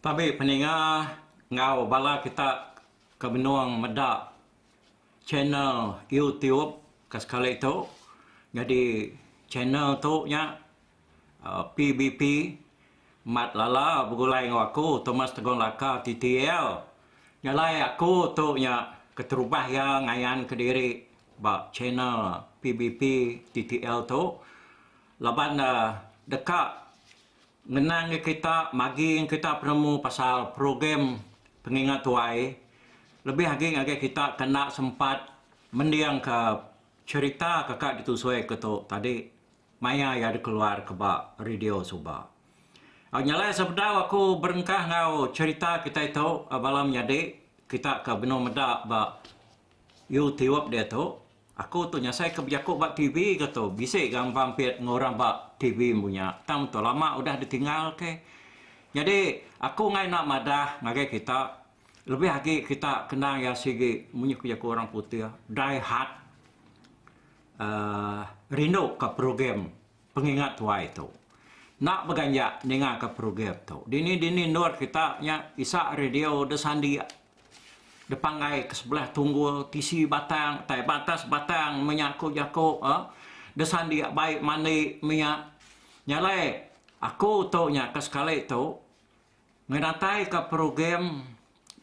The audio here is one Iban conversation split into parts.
Tabi peninga enggau bala kita ke benung meda channel YouTube ke sekali tu. Nyadi channel tu nya. PBP, Mat Lala begulai enggau aku, Thomas Tegon Laka, TTL. Jalai aku tu nya keterubah iya ngayanka diri ba channel PBP, TTL tu laban ne deka ngenangka kita, magingka kita penemu pasal program pengingat tuai lebih agi ngagai kita ke enda sempat mendingka cherita kaka ditusui aku tu tadi. Maya iya dikeluar ke ba radio suba. Au nyalai sebedau aku berengkah enggau cherita kitai tu bala menyadi kita ke benung meda ba youtube diatu, aku tu nyasai ke bejaku ba TV ke tu bisi ga mampit enggau orang ba TV empu nya tang meh tu lama udah ditinggal ke. Nyadi aku angai enda madah ngagai kita lebih agi kita kendang iya sigi munyi ku jaku orang putih die hard. rindu ka program pengingat tuai tu. Enda beganja ninga ka program tu. Dini dini endur kita nya isa radio da sandik da panggai ke sebelah tunggul tisi batang tai ba atas batang menya aku jaku um da sandik baik mandi menya. Nya alai aku tu nya ka sekali tu Ngedatai ka program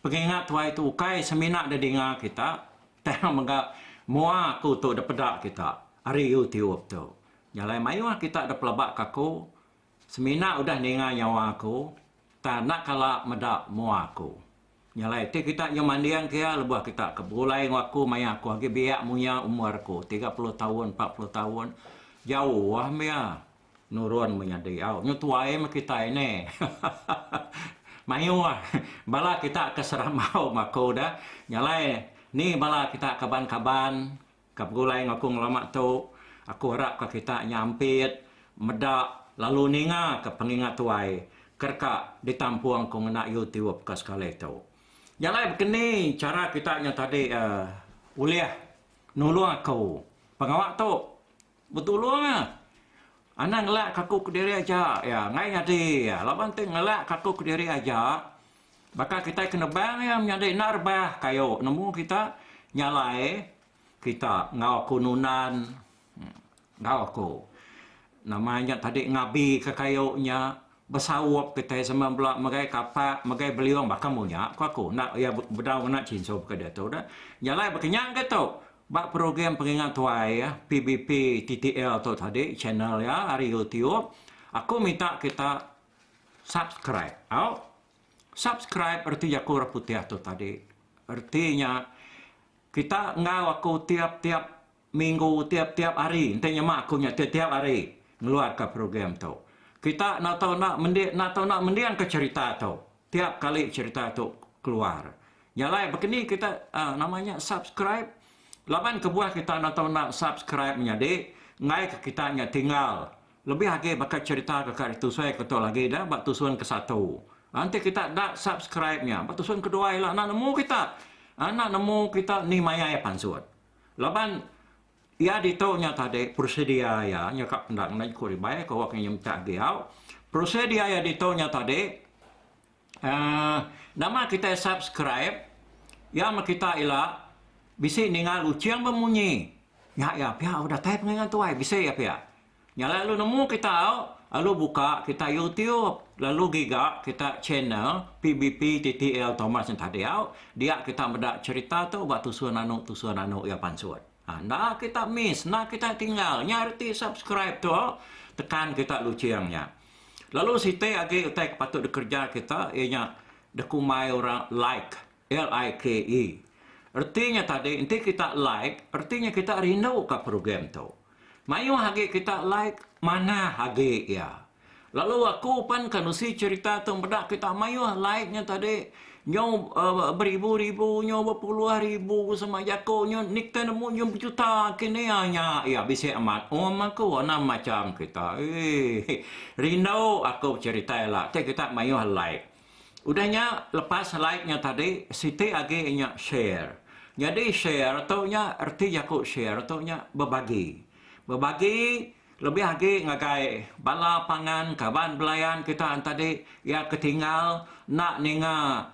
pengingat tuai tu ukai semina da dinga kita tang mega mua aku tu da peda kita ari youtube tu. Jalai mayuh kita da pelaba ka aku semina udah ninga nyawa aku tang enda kala meda mua aku. Nya alai ti kita nyau manding ke iya lebuh kita ke begulai enggau aku maya aku agi biak munya umur aku tiga puluh taun empat puluh taun jauh meh iya nurun menyadi au nyu tuai meh kita ini mayuh bala kita ke serambau mah aku dah nya alai ni bala kita kaban-kaban Ka begulai enggau aku ngelama tu, aku harapka kita nya ampit meda lalu ningaka penginga tuai ke deka ditampung ku ngena YouTube ke sekali tu. Nya alai baka ni chara kita nya tadi ulih nulung aku pengawa tu? Betulung iya. Anang ngelak kaku kediri aja iya. Enggai nyadi iya. Laban ti ngelak kaku kediri aja, baka kitai ke nebang iya menyadi enda rebah kayu nemu kita nyalai kita enggau aku nunan enggau aku nama nya tadi ngabika kayu nya besaup kitai sama bela megai kapa megai beliung baka mung nya ku aku. Enda iya bedau ngena chinsu baka diatu dah. Nyalai baka nya enggai tu. Ba program Peringat Tuai PBP TTL tu tadi channel iya ari YouTube aku minta kita subscribe au. Subscribe reti jaku orang putih tu tadi. Reti nya kita enggau aku tiap-tiap minggu tiap-tiap hari enti nyema aku nya tiap-tiap hari ngeluarka program tu. Kita enda tau enda mending enda tau enda mendingka cherita tu. Tiap kali cerita tu keluar. Nya alai bakani kita uh, nama nya subscribe laban kebuah kita enda tau enda subscribe menyadi enggai ke kita nya tinggal lebih agi baka cerita ke ka ditusui ke tu lagi dah ba tusun ke satu. Uh, enti kita enda subscribe nya ba tusun kedua ialah enda nemu kita. Uh, enda nemu kita ni maya iya pansut. Laban Iya ditu nya tadi prosedur iya nya ka penda ngena juku ribai ke awak inya mencak giau. Prosedur iya ditu nya tadi uhh nama kitai subscribe iya meh kita ila bisi ninga lucing bemunyi. Nya iya pia datai pengingat tuai bisi iya pia. Nyala lalu nemu kita lalu buka kita youtube lalu giga kita channel PBP TTL Thomas nya tadi dia kita meda cherita tu ba tusur nanu tusur nanu iya pansut. Ha enda kita miss enda kita tinggal nya reti subscribe tu tekan kita luching nya. Lalu siti agi utai ke patut dikereja kita iya nya dekumbai orang like. LIKE, Reti nya tadi enti kita like, reti nya kita rindu ka program tu. Mayuh agi kita like, manah agi iya. Lalu aku pan ka nusi cherita tu meda kita mayuh like nya tadi nyau beribu-ribu, nyau bepuluh ribu sama jako nya enti kita nemu nyau bejuta ke ni nya iya bisi amat um aku anang macham kita. Rindu aku cherita ila ti kita mayuh like. Udah nya lepas like nya tadi siti agi nya share. Nyadi share tu nya reti jaku share tu nya bebagi. Bebagi lebih agi ngagai bala pangan kaban belayan kita entadi iya ketinggal enda ninga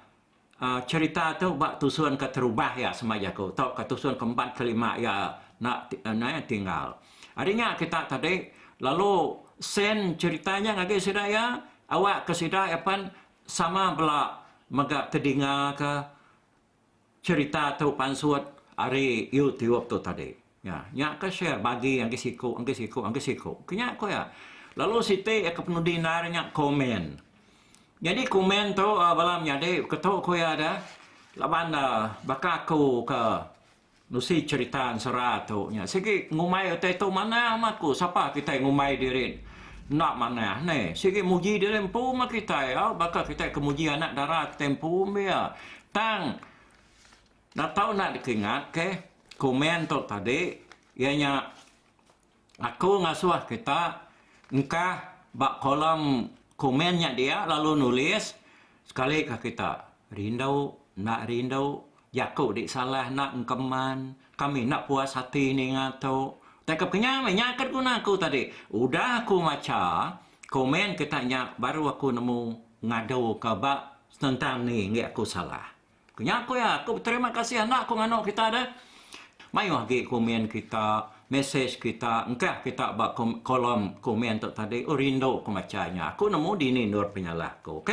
uhh cerita tu ba tusun keterubah iya sema jaku tauka tusun keempat kelima iya enda tinggal. Ari nya kita tadi lalu send cherita nya ngagi sida iya awak ke sida iya pen sama bela mega tedinga ke cherita tu pansut ari youtube tu tadi. Nya nya ke share bagi agi siku agi siku agi siku ke nya ku iya. Lalu siti iya ke penudi endar nya komen. Nyadi komen tu bala menyadi ke tu ku iya dah laban baka aku ke Nusi cherita ensera tu nya sigi ngumbai utai tu manah amat ku sapa kitai ngumbai diri enda manah neh sigi muji diri empu meh kitai au baka kitai ke muji anak dara kitai empu mbe iya tang enda tau enda dikingat ke komen tu tadi iya nya Aku ngasuh kita engkah ba kolom komen nya dia lalu nulis sekali ka kita rindu enda rindu jaku di salah enda engkeman kami enda puas ati ninga tu tei ka kenyau meh nya ke guna aku tadi udah aku macha komen kita nya baru aku nemu ngadu ka ba senentang ni enggi aku salah. Ku nya ku iya, aku beterima kasih enda ku nganu kita deh. Mayuh agi komen kita, mesej kita engkah kita ba kolom komen tu tadi. Oh rindu ku macha nya. Aku nemu dini endur penyalah aku. Ok.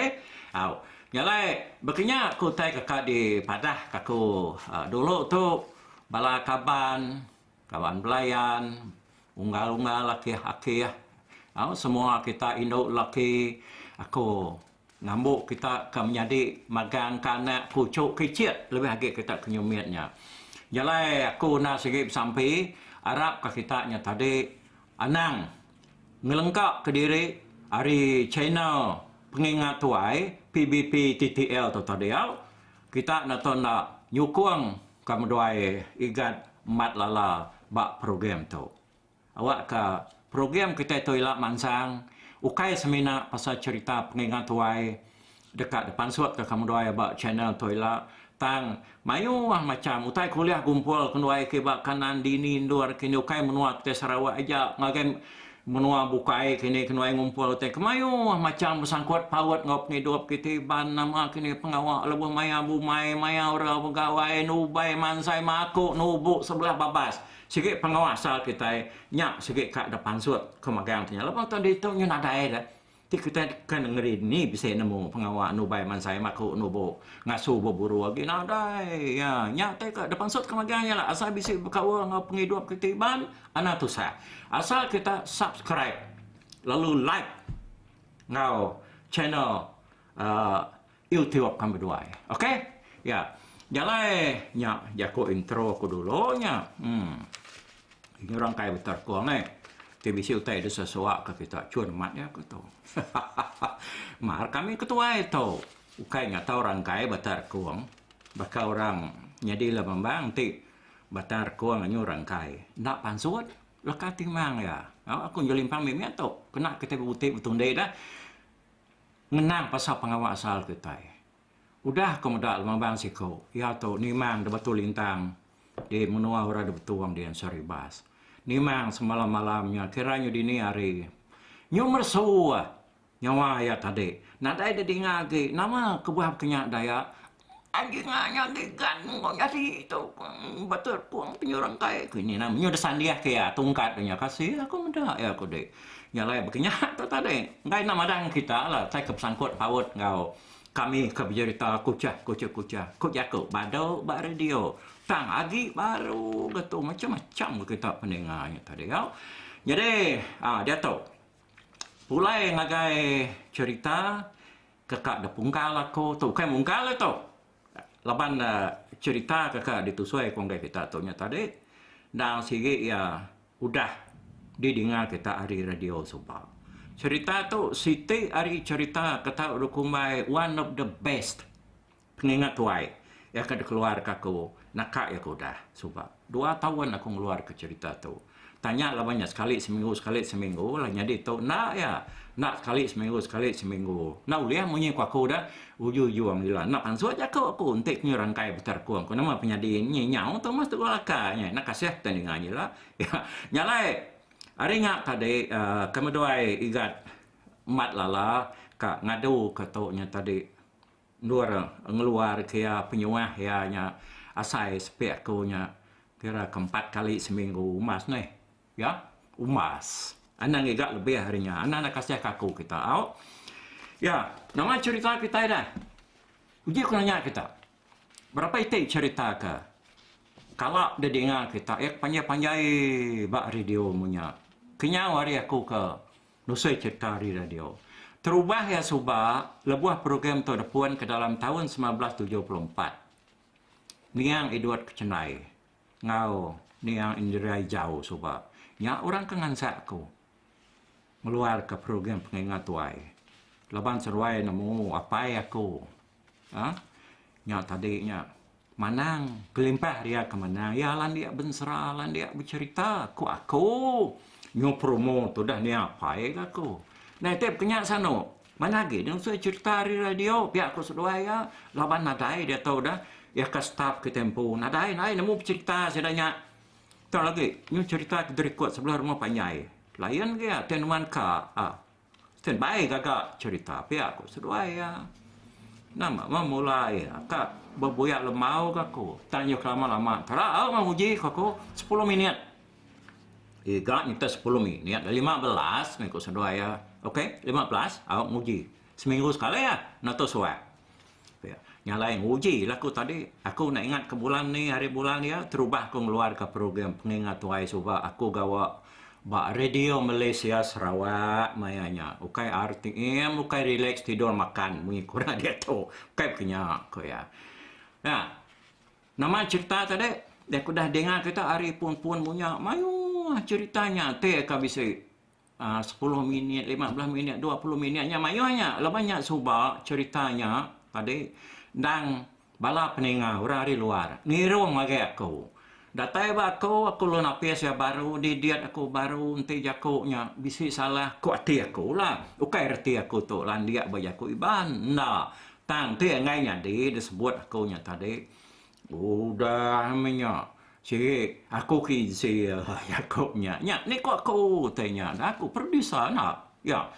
Au. Nya alai bekenya ku utai kaka dipadah ka aku dulu tu bala kaban. kaban belayan, unggal-unggal akih-akih, au semua kita indu laki aku ngambu kita ke menyadi magang ke anak kuchu ke ichit lebih agi kita ke nyumit nya. Jalai aku enda sigi besampi arap ka kita nya tadi anang ngelengka ke diri ari channel pengingat tuai PBP TTL tu tadi au kita enda tu enda nyukung Ka meduai Igat Mat Lala ba program tu. Awakka program kitai tu ila mansang ukai semina pasal cherita pengingat tuai deka dipansutka ka meduai ba channel tu ila tang mayuh macham utai kuliah gumpul kenduai kiba kanan dini endur kini ukai menua kitai Sarawak aja ngagai Menua bukai kini ke nuai ngumpul utai ke mayuh macham besangkut paut enggau pengidup kiti ban nama kini pengawa lebuh maya bumai, maya ora begawai, nubai mansai maku nubu sebelah babas sigi penguasa kitai nya sigi ka depansut, ku magang tu nya. Lebuh tu ditu nyun nadai deh. Ti kitai deka nengeri ni bisi nemu pengawa nubai mansai maku nubu ngasu beburu agi nadai iya. Nya tai ka dipansut ke magang iya la asal bisi bekaul enggau pengidup kitai iban anang tusah. Asal kita subscribe lalu like enggau channel uhh Yu tiup kan beduai ok ya jalai nya jaku intro ku dulu nya um ini orang kai beter ko angai ti bisi utai desa sawa ka kita cun amat ya ko tu hahaha mar kami ke tuai tu ukai ngata orang kai beter kong baka orang nyadi lemambang ti beter kong anyu orang kai enda pansut leka timang ya aku ngelimpang mimit tu kena kita bebutih betundi dah. ngenang pasal pengawa asal kitai. Udah ku meda Lumabang siku, iya tu Nimang di Batu Lintang di menua Orang Dibetung di Ansar Ibas. Nimang semalam-malam nya kira nyu dini hari nyu meresu nyawa iya tadi. Nadai didinga agi nama kebuah baka nya Dayak Agi nya nya gigan mung nyadi tu ba telefon ke nyuruh engkai ku nya nya udah sandih ke iya tungkat nya kasih aku meda iya ku deh nya alai baka nya tu tadi enggai enda madah ngan kita la asai ke besangkut paut enggau kami ke bejerita kuchah kuchah kuchah ku jaku badu ba radio tang agi baru ga tu macam-macam ga kita peninga nya tadi au jadi um diatu pulai ngagai cherita ke ka dipungkal aku tu ukai mungkal dia tu laban cherita ke ka ditusoi ke enggai kita tu nya tadi endang sigi iya udah didinga kita ari radio suba. Cherita tu siti ari cherita ke tau dikumbai one of the best. Pengingat tuai, iya ke dikeluarka aku naka iya ke udah suba dua taun aku ngeluarka cherita tu. Tanya laban iya sekali seminggu sekali seminggu lah nyadi tu enda iya. Enda sekali seminggu sekali seminggu. Enda ulih munyi ku aku dah ujung-ujung ila enda pansut jaku aku enti ku nyerangkai beterkung ku nama penyadi nyi nyau tu mas teguh laka nya enda kasih kita ninga nyi ila. Nya alai ari nya tadi aaa kemeduai igat Mat Lala ka ngadu ke tu nya tadi. Endur ngeluar kira penyuah iya nya asai sepi aku nya kira ke empat kali seminggu umbas neh ya umbas anang iga lebih ari nya anang enda kasih ka aku kita au ya nama cherita kitai dah uji ku nanya kita berapa iti cherita ke kala didinga kita iya ke panjai-panjai ba radio menya kenyau ari aku ke Nusui chereta ari radio. Terubah iya suba lebuh program tu depun ke dalam taun semilan belas tujuh puluh empat. Niang Edward Kechenai enggau Niang Indira Ijau suba nya orang ke ngansak aku ngeluarka program Pengingat Tuai laban seduai nemu apai aku. Nya tadi nya. Manang, kelimpah ria ke manang iya landik bensera, landik becherita ku aku. Nyu promo tu udah nia apai ke aku. Nai ti pekenya sano. Mana agi deh nusui cherita ari radio pia ku seduai iya laban nadai diatu udah iya ka staff ke tempo nadai nadai nemu pecherita sida nya. Tau agi nyu cherita ke derikut sebelah rumah panjai. Layan agi iya ti nuan ka. Ken bai gaga cerita pia ku seduai iya. Nama meh mula iya ka bebuyak lembau ka ku. Tang iya kelama lama tera au meh uji ka ku sepuluh minit. Iga nyita sepuluh minit dah lima belas meh ku seduai iya. Ok lima belas au nguji seminggu sekali ah natu suai. Nya alai nguji la ku tadi, aku enda ingat ke bulan ni ari bulan iya terubah aku ngeluar ka program penginga tuai suba aku gawa ba radio Malaysia Sarawak maya nya. Ukai RTM ukai relax tidur makan mung iku nya diatu. Ukai pun nya ku iya. Nya nama cherita tadi aku dah dinga kita ari pun-pun munya mayuh cherita nya ti ka bisi Um Sepuluh minit, lima belas minit, dua puluh minit nya mayuh nya laban nya suba cherita nya tadi endang bala peninga orang ari luar ngirung ngagai aku. Datai ba aku, aku ulih napis iya baru, didit aku baru enti jaku nya bisi salah ku ati aku lah. Ukai reti aku tu landik ba jaku Iban, enda. Tang ti angai nyadi disebut aku nya tadi. Udah meh nya. Siri, aku ke insi alai jaku nya. Nya ni ku aku utai nya dah aku producer enda. Iya.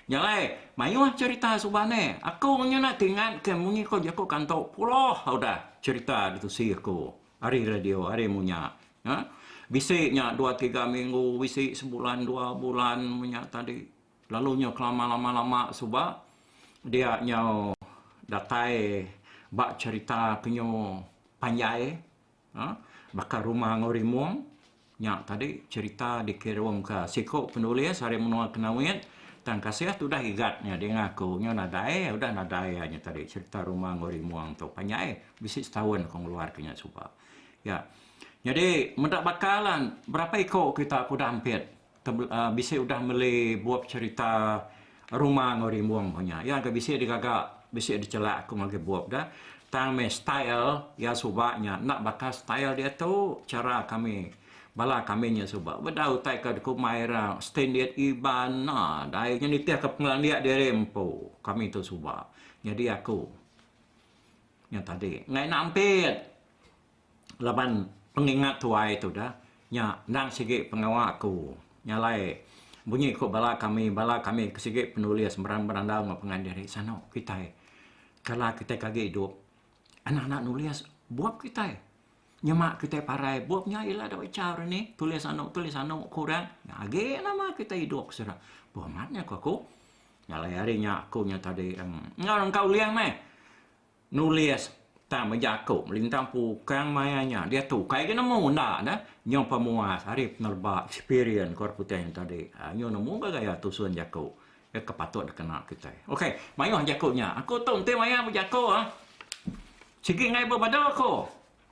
Nya alai mayuh cherita suba ni. Aku nya enda ke ingat ke munyi ko jaku kanto puluh udah cherita ditusi aku ari radio ari mu nya. Bisi nya dua tiga minggu bisi sebulan dua bulan meh nya tadi. Lalu nyau kelama lama lama suba dia nyau datai ba cherita kenyu panjai uhh baka rumah enggau rimung nya tadi cherita dikirum ka siku penulis ari menua kenawit tang kasih tudah igat nya dinga aku nyau nadai udah nadai iya nya tadi cherita rumah enggau rimung tu panjai bisi setaun aku ngeluar ka nya suba iya. Nyadi meda baka lah berapa iku kita ke udah ampit. Bisi udah meli bup cherita Rumah enggau Rimbung ko nya. Iya engka bisi digaga bisi dichelak aku ngagai bup da. Tang meh style iya suba nya enda baka style diatu chara kami bala kami nya suba. Ba da utai ka dikumbai ira standard Iban enda dai nya nitih ka pengelandik diri empu kami tu suba. Nyadi aku nya tadi. Enggau ina ampit. laban pengingat tuai tudah nya endang sigi pengawa aku nya alai bunyi ku bala kami bala kami ke sigi penulis meran berandau enggau pengan diri sano kitai kala kitai ke agi idup anak anak nulis bup kitai nyema kitai parai bup nya ila dau icha hari ni tulis anu tulis anu ku orang nya agi nama kitai idup ke sida bu amat nya ku aku nya alai ari nya aku nya tadi enggau engka ulih meh Nulis tang bejaku meli ntang pukang maya nya diatu kai ke nemu enda neh nyau pemuas ari penerba eksperian ke orang putih nya tadi nyu nemu ga gaya tusun jaku iya ke patut dikena kitai ok mayuh jaku nya aku tu enti maya bejaku sigi ngai bebadu aku.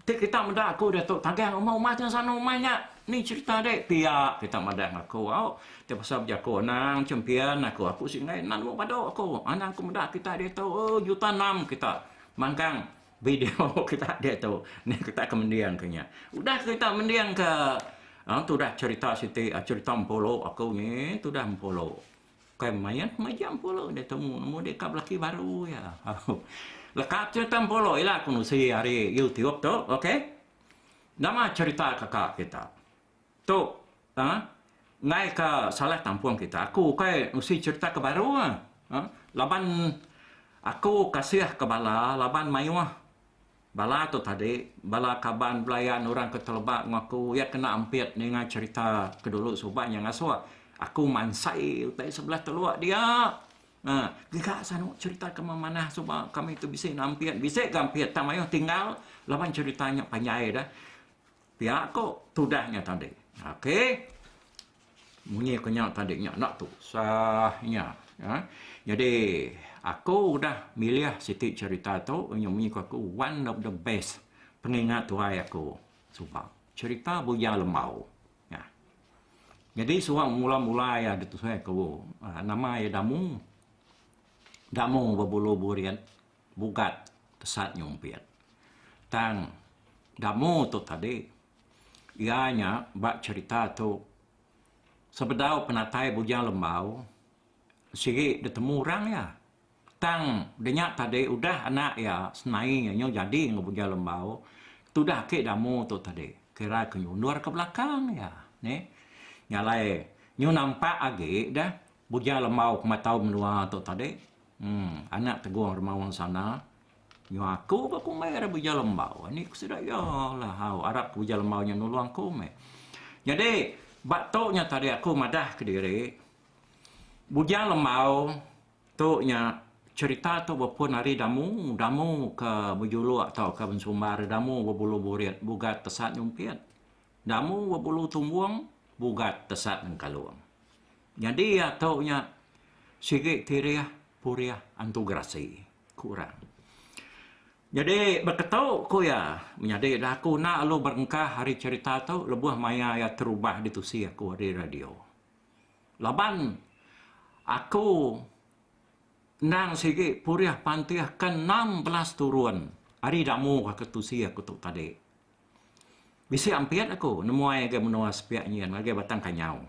Ti kita meda aku diatu tagang uma uma ti ensana uma nya ni cerita deh pia kita madah ngaku au ti pasal bejaku anang champion aku aku sik enggai nan lok badu aku anang ku meda kita diatu ooh juta enam kita manggang video kita diatu ni kita ke mending ke nya udah kita mending ke tudah cerita siti cerita mpu lok aku nyi tudah mpu lok. Bukai main ke meja Empolo udah temu nemu dek ka belaki baru iya. Leka cerita Empolo ila ku nusi ari YouTube tu okey. Nama cerita kaka kita. Tu ha ngai ka salah tampung kita aku ukai nusi cerita ke baru ah ha laban aku kasih ke bala laban maioh. Bala tu tadi, bala kaban belayan orang ke teleba enggau aku, iya kena ampit ninga cherita ke dulu suba nya ngasuh aku mansai utai sebelah teluk dia. Aa, giga sanu cherita ke memanah suba kami tu bisi ne ampit, bisi ga ampit tang mayuh tinggal laban cherita nya panjai dah. Pia ko tudah nya tadi. Ok. Munyi ko nya tadi nya enda tu. Sah nya. Ha? Jadi aku udah milih siti cerita tu nya munyi ko aku one of the best pengingat tuai aku suba cerita buya lembau. Ya. Jadi suang mula-mula ya ditusai aku. Ha, nama ya damu. Damu bebulu burian. bugat tesat nyumpit. Tang Damu tu tadi iya nya ba cherita tu sebedau penatai Bujang Lembau sigi ditemu orang iya. Tang de nya tadi udah anak iya senai iya nyu jadi enggau Bujang Lembau tudah agi Damu tu tadi kira ke nyundor ke belakang iya neh. Nya alai nyu nampak agi dah. Buja lembau kematau menua tu tadi. Emm anak tegong remaung sana nyua aku ba ku meh ira buja lembau ani ku sida iya la hau arap ke buja lembau nya nulung aku meh. Nyadi ba tu nya tadi aku madah kediri buja lembau tu nya cherita tu bepun ari damu, damu ke bejuluk tauka bensumbar damu bebulu burit bugat tesat nyumpit. Damu bebulu tumbung bugat tesat nengkalung. Nyadi iya tu nya sigi tirih purih antu gerasi, ku orang. Nyadi beketu ku iya, menyadi dah aku enda lalu berengkah ari cherita tu lebuh maya iya terubah ditusi aku ari radio. Laban aku endang sigi purih pantih ke enam belas turun ari damu ke tusi aku tu tadi. Bisi ampit aku nemuai ga menua sepiak nyin ngagai Batang Kanyau.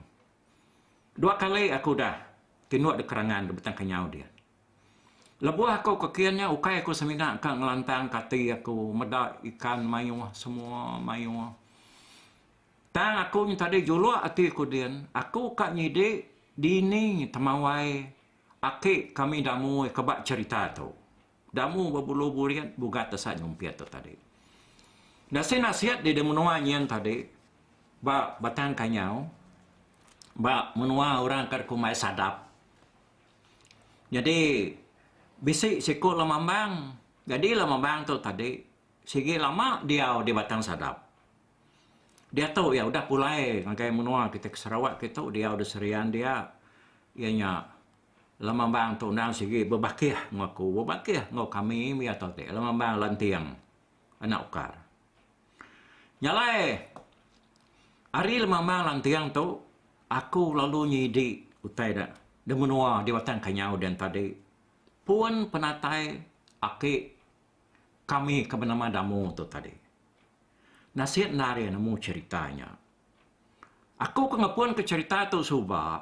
Dua kali aku udah tinduk di kerangan di betang kenyau dia. Lebuh aku ke kin nya ukai aku semina ka ngelantang ka ati aku meda ikan mayuh semua mayuh. Tang aku nyetadi juluk ati aku din aku ka nyidi dini temawai aki kami Damui ke ba cherita tu. Damu bebulu burit bugat desa nyumpit tu tadi. Nasit-nasit di di menua nyin tadi ba Batang Kanyau ba menua orang ke dikumbai Sadap. Nyadi bisi siku Lamambang. Nyadi Lamambang tu tadi sigi lama diau di Batang Sadap. Diatu iya udah pulai ngagai menua kitai ke Sarawak kitu diau di Serian dia iya nya Lemambang tu endang sigi bebakih enggau aku, bebakih enggau kami mih atur ti. Lemambang lanting anak ukar. Nya alai ari lemambang lanting tu aku lalu nyidi utai da da menua di Batang Kanyau dian tadi pun penatai aki kami ke benama Damu tu tadi. Nasit enda ari nemu cherita nya. Aku ke ngepunka cherita tu suba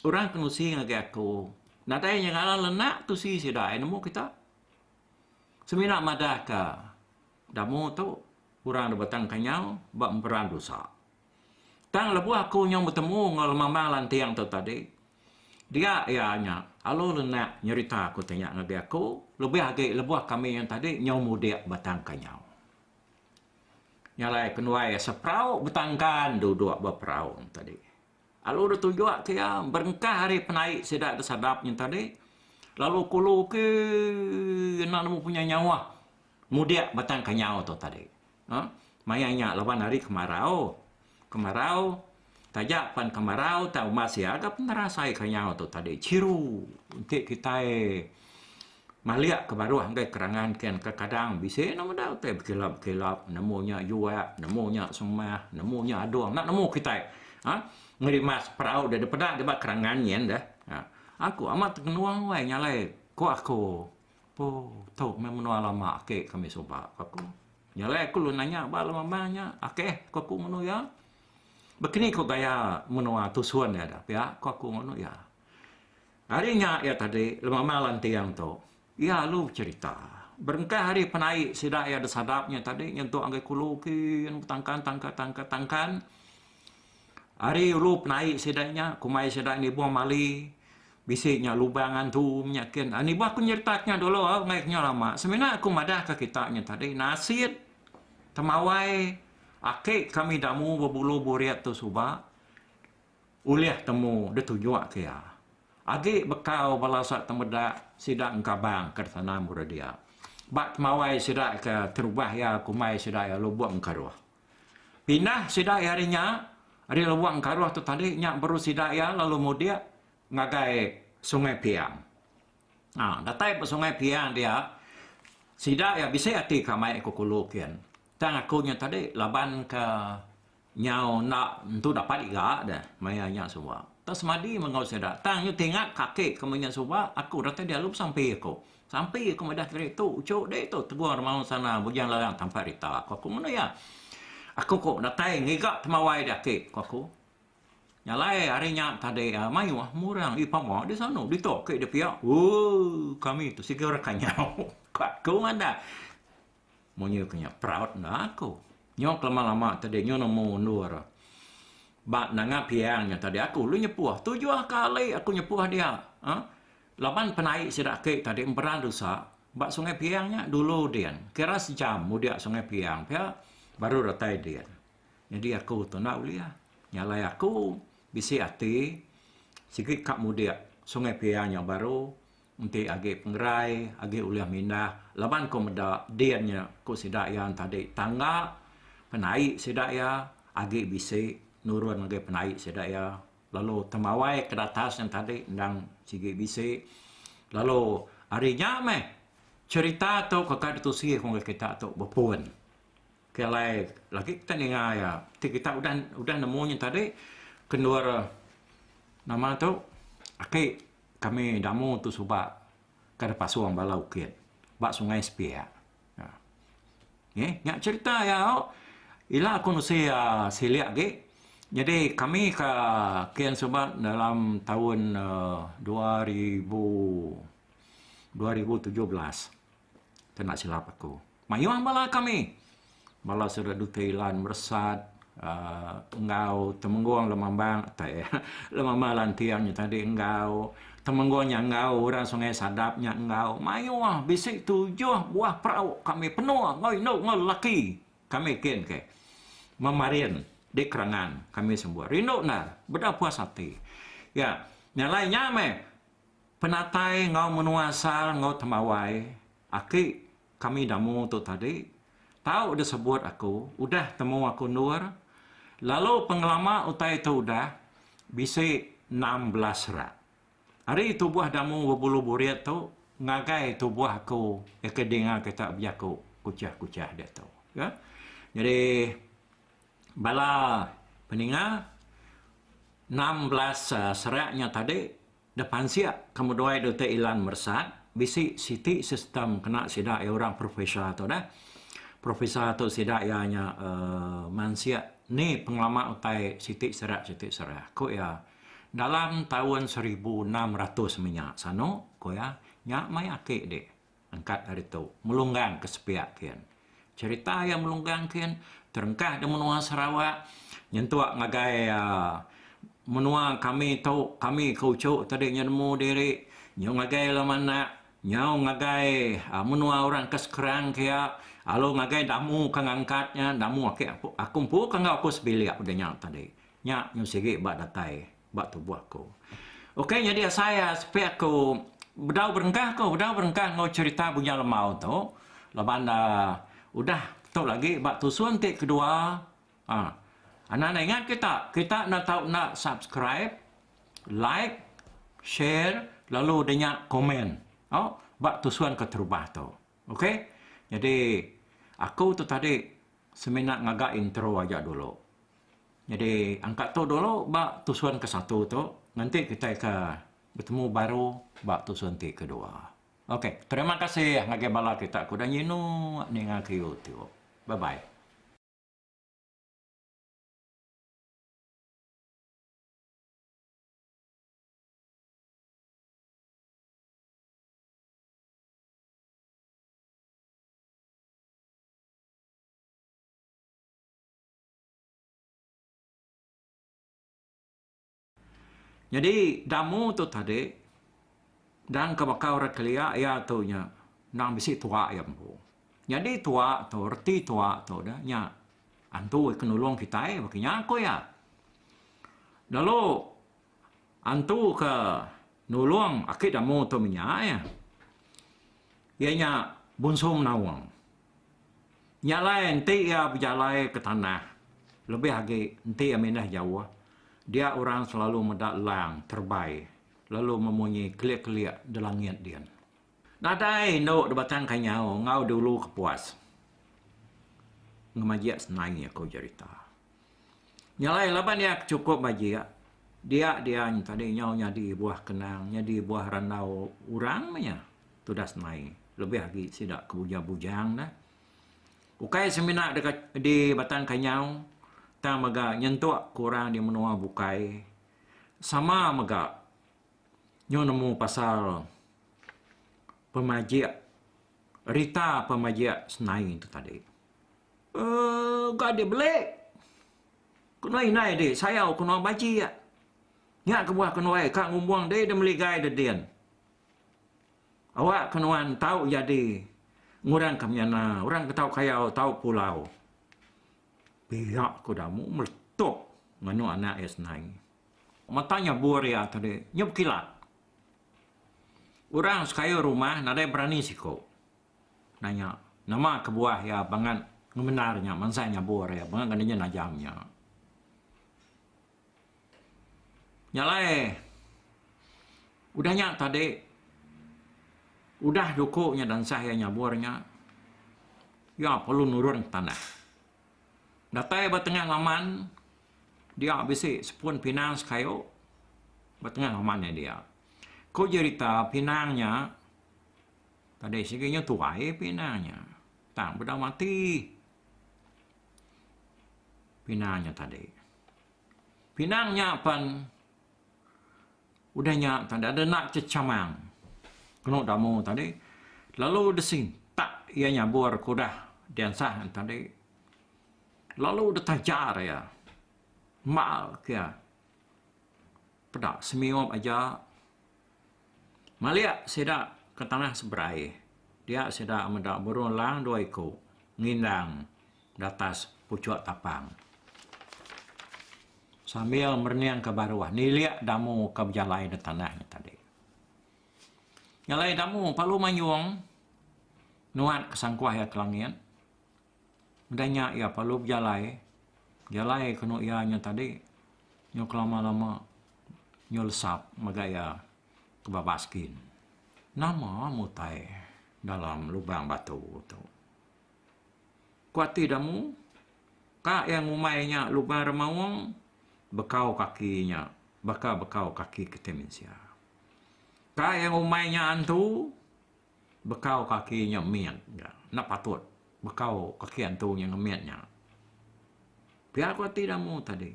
orang ke nusi ngagai aku nadai inya ngaran le enda tusi sida ai nemu kita. Semina madahka damu tu orang da batang kenyau ba mperan dusa. Tang lebuh aku nyau betemu enggau lemamang lanting tu tadi dia iya nya alu le enda nyerita ku ti nya ngagai aku lebih agi lebuh kami tadi nyau mudik batang kenyau. Nya alai kenuai seperau betangkan duduk ba perau nya tadi. Lalu deh tunjuk ke iya berengkah ari penai sida deh sadap nya tadi lalu kulu ke enda nemu punya nyawa mudik batang kenyau tu tadi. Maya nya laban hari kemarau. Kemarau, taja pan kemarau tau mas iya ga penerasai ka nyau tu tadi chiru enti kitai malik ke baruh enggai kerangan ken ka kadang bisi enda meda utai bekilap bekilap nemu nya yuak nemu nya semah nemu nya adung enda nemu kitai ha ngerimas perau deh deh peda deh ba kerangan nyen deh aku amat tengenung alai nyalai ko aku. Aku, tu meh menua lama ake kami suba, ku aku. Jalai aku lalu nanya ba lema meh nya. Ok, ku aku ngunu iya. Ba kini ku gaya menua Tusun iya da pia, ku aku ngunu iya. Ari nya iya tadi lema meh lanting tu, iya alu becerita. Berengkah ari penai sida iya da sadap nya tadi nyentuk ngagai kulu kin betangkan tangkan tangkan tangkan. Ari ulu penai sida nya, kumbai sida nibung mali, Bisi nya lubang antu nya kin ani bah penyereta nya dulu ngai nya lama semina aku madah ka kita nya tadi nasit temawai aki kami damu bebulu burit tu suba ulih temu ditunjuk ke iya agi bekau bala sa temeda sida engkabang ke sana muru dia ba temawai sida ke terubah iya kumbai sida iya lubong ke ruh. Pindah sida iya ari nya, ari Lewang Karuh tu tadi nya baru sida iya lalu mudik ngagai Sungai Piang. Ha, datai ba Sungai Piang dia, sida iya bisi ati ka mai ku Kulu kin. Tang aku nya tadi laban ke nyau enda entu dapat iga deh maya nya suba. Enda semadi meh enggau sida. Tang nyau ti ingat kaki ke meh nya suba, aku datai dialu besampi aku. Sampi aku madah keri tu, uchu ditu Tegong Remaong Sana Bujang Larang tampat rita, ku aku ngena iya. Aku ko datai ngiga temawai di aki, ku aku. Nyalai hari nya tadi mayuh murang ih pama di sanu ditu aki dipia. Ooh kami tu siga orang kanyau, ku aku madah. Munyi ku nya proud enda aku. Nyau ke lama-lama tadi nyau nemu endur ba nengah piang nya tadi aku lu nyepuh tujuh kali aku nyepuh dia aaa laban penai sida ake tadi emperan tusa ba sungai piang nya dulu din kira sejam mudia sungai piang pia baru datai din. Nyadi aku tu enda ulih nya alai aku bisi ati sigi ka mudik sungai piang nya baru Enti agi pengerai agi ulih mindah laban ku meda din nya ku sida iya entadi tangga penai sida iya agi bisi nurun ngagai penai sida iya lalu temawai ke datas entadi endang sigi bisi lalu ari nya meh cherita tu ke kai ditusi ku ngagai kita tu bepun ke alai lagi kita ninga iya ti kita udah udah nemu nya tadi ke endur nama tu aki Kami damu tu suba ka da pasung bala ukit ba Sungai Sepiak. Neh nya cherita iya tu. Ila ku nusi silik agi nyadi kami ka kin suba dalam taun dua ribu dua ribu tujuh belas. kena silap aku. Mayuh bala kami, bala sida duka Ilan meresat aaa enggau Temenggong Lemambang tai Lemambang Lanting nya tadi enggau Temenggong nya enggau orang Sungai Sadap nya enggau mayuh bisi tujuh buah perau kami penuh enggau indu enggau lelaki kami kin ke Memarin di Kerangan kami sembuh. Rindu endar, beda puas ati. Nya, nya alai nya meh Penatai enggau menua asal enggau tembawai aki kami Damu tu tadi tau disebut aku udah temu aku endur lalu pengelama utai tu udah bisi enam belas rak. Ari tubuh Damu bebulu burit tu ngagai tubuh aku eka dinga kita bejaku kuchah-kuchah diatu. Ka. Nyadi. bala peninga enam belas serak nya tadi deh pansik ke meduai Doctor Ilan Mersat bisi siti sistem kena sida iya orang professor tu deh. Professor tu sida iya nya uhh mansik ni pengelama utai siti serak siti serak ku iya dalam taun seribu enam ratus meh nya sanu ku iya nya meh ati dih. Angkat ari tu, Melunggang ke sepiak kin. Cherita iya Melunggang kin terengkah di menua Sarawak nyentuk ngagai menua kami tu, kami ke uchu tadi nya nemu diri nyau ngagai lama anak, nyau ngagai menua orang ke sekerang ke iya lalu ngagai damu ke ngangkat nya, damu ake aku empu ke enggau aku sebilik udah nya tadi. Nya nyau sigi ba datai. ba tubuh aku. Ok nyadi asai a sepi aku bedau berengkah ko bedau berengkah enggau cerita Bujang Lemau tu laban da udah tu lagi ba tusun ti kedua ah anak anak ingat kita kita enda tau enda subscribe like share lalu da nya komen oh ba tusun keterubah tu ok nyadi aku tu tadi semina ngaga intro aja dulu. Nyadi angka tu dulu ba tusun ke satu tu nganti kitai ke betemu baru ba tusun ti kedua. Ok terima kasih ngagai bala kita ke udah nyinu ninga ke youtube. Bye bye. Nyadi damu tu tadi dan ke baka orang kelia iya tu nya endang bisi tuwa iya empu. Nyadi tuwa tu reti tuwa tu udah nya antu ke nulung kitai ba kinya ku iya. Lalu antu ke nulung aki damu tu menya iya. Iya nya Bungsu Menawang. Nya alai enti iya bejalai ke tanah lebih agi enti iya mindah jauh dia orang selalu meda lang terebai lalu memunyi kelik-kelik di langit din. Nadai indu di Batang Kanyau enggau di Ulu Kepuas ngemajik senai aku jerita. Nya alai laban iya chukup bajik dia dian tadi nyau nyadi buah kenang, nyadi buah randau orang meh iya. tudas mai lebih agi sida ke bujang bujang da ukai semina deka di batang kenyau tang mega nyentuk ke orang di menua bukai sama mega nyau nemu pasal pemajik rita pemajik senai tu tadi um ga di beli kena inai di sayau kena bajik nya kebuah kenuai ka ngumbung dei da meligai da din Awak ke nuan tau jadi ngurang ke menyana orang ke tau kayau tau pulau. Pia ku Damu meletup nganu anak iya senai. Mata nya bur iya tadi nya bekilat. Orang sekayu rumah nadai berani siku nanya nama kebuah iya bangat ngemendar nya mansai nya bur iya bangat ngena inya najam nya. Nya alai udah nya tadi udah juku nya dansah iya nyabur nya iya perlu nurun tanah. Datai ba tengah laman dia bisi sepun pinang sekayu ba tengah laman iya dia. Ku jerita pinang nya tadi sigi nya tuai pinang nya tang peda mati pinang nya tadi. Pinang nya pan udah nya tadi ada enda chechamang kenu damu tadi lalu disintak iya nyabur ke udah diansah tadi lalu ditajar iya mal ke iya peda semiup aja Malik sida ke tanah seberai dia sida meda burung elang dua iku ngindang di atas puchuk tapang sambil mereningka baruh nilik damu ke bejalai di tanah nya tadi. Nyalai damu palu manyung nuan ke sangkuh iya ke langit Udah nya iya perlu bejalai, jalai kenu iya nya tadi nyau kelama-lama nyau lesap mega iya ke baba skin. Nama mu utai dalam lubang batu tu? Ku ati da mu, ka iya ngumbai nya lubang remaung bekau kaki nya baka bekau kaki kiti mensia. Ka iya ngumbai nya antu. Bekau kaki nya mit ga. Enda patut bekau kaki antu nya ngemit nya. Pia ku ati Damu tadi.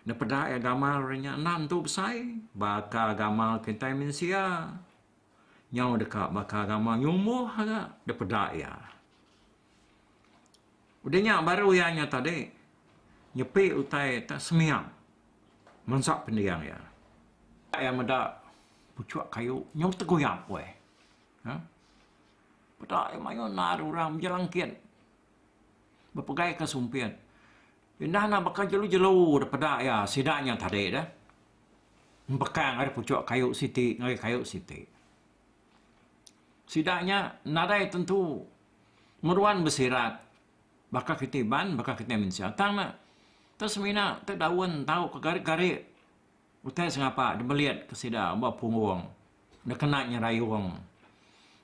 Nepeda iya gamal ari nya enda antu besai. Baka gamal kitai mensia nyau deka baka gamal nyumbuh ga dipeda iya. Udah nya baru iya nya tadi nyepi utai ta sembiang. Mansa pendiang iya, iya meda puchuk kayu nyau teguyap weh. Ha? Peda iya mayuh nal orang mija langkit. Bepegai ke sumpit. Indah enda baka jelu-jelu deh peda iya sida nya tadi deh. Empekang ari puchuk kayu siti ngagai kayu siti. Sida nya nadai tentu meruan besirat. Baka kiti iban, baka kiti mensia. Tang ne, te semina te daun tau ke gari-gari utai sengapa dibelit ke sida ba punggung ne kena nyerayung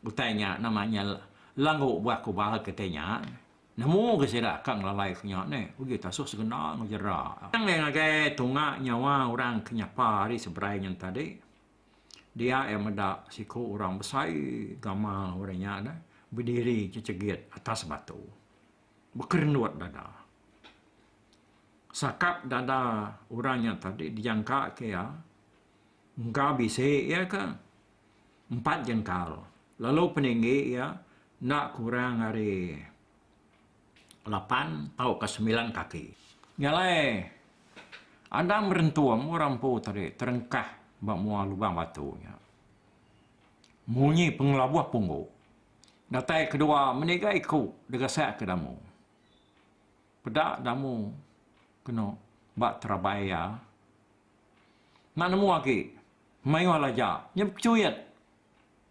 utai nya nama nya lalu buah kubal kiti nya nemu ga sida ka ngelalai ke nya neh uji te asu segena enggau jera. Tang deh ngagai tunga nyawa orang ke nyapa ari seberai nya tadi. dia iya meda siku orang besai gamal orang nya deh bediri cecegit atas batu bekerenut dada. Sakap dada orang nya tadi dijangka ke iya engka bisi iya ke empat jengkal lalu peninggi iya enda kurang ari lapan tauka semilan kaki. Nya alai, Adam berentung orang empu tadi terengkah ba mua lubang batu nya. Munyi pengelabuh punggu. Datai kedua meniga iku degasakka damu. Peda damu kenu ba terabai iya. Enda nemu agi mayuh laja nya bekechuit.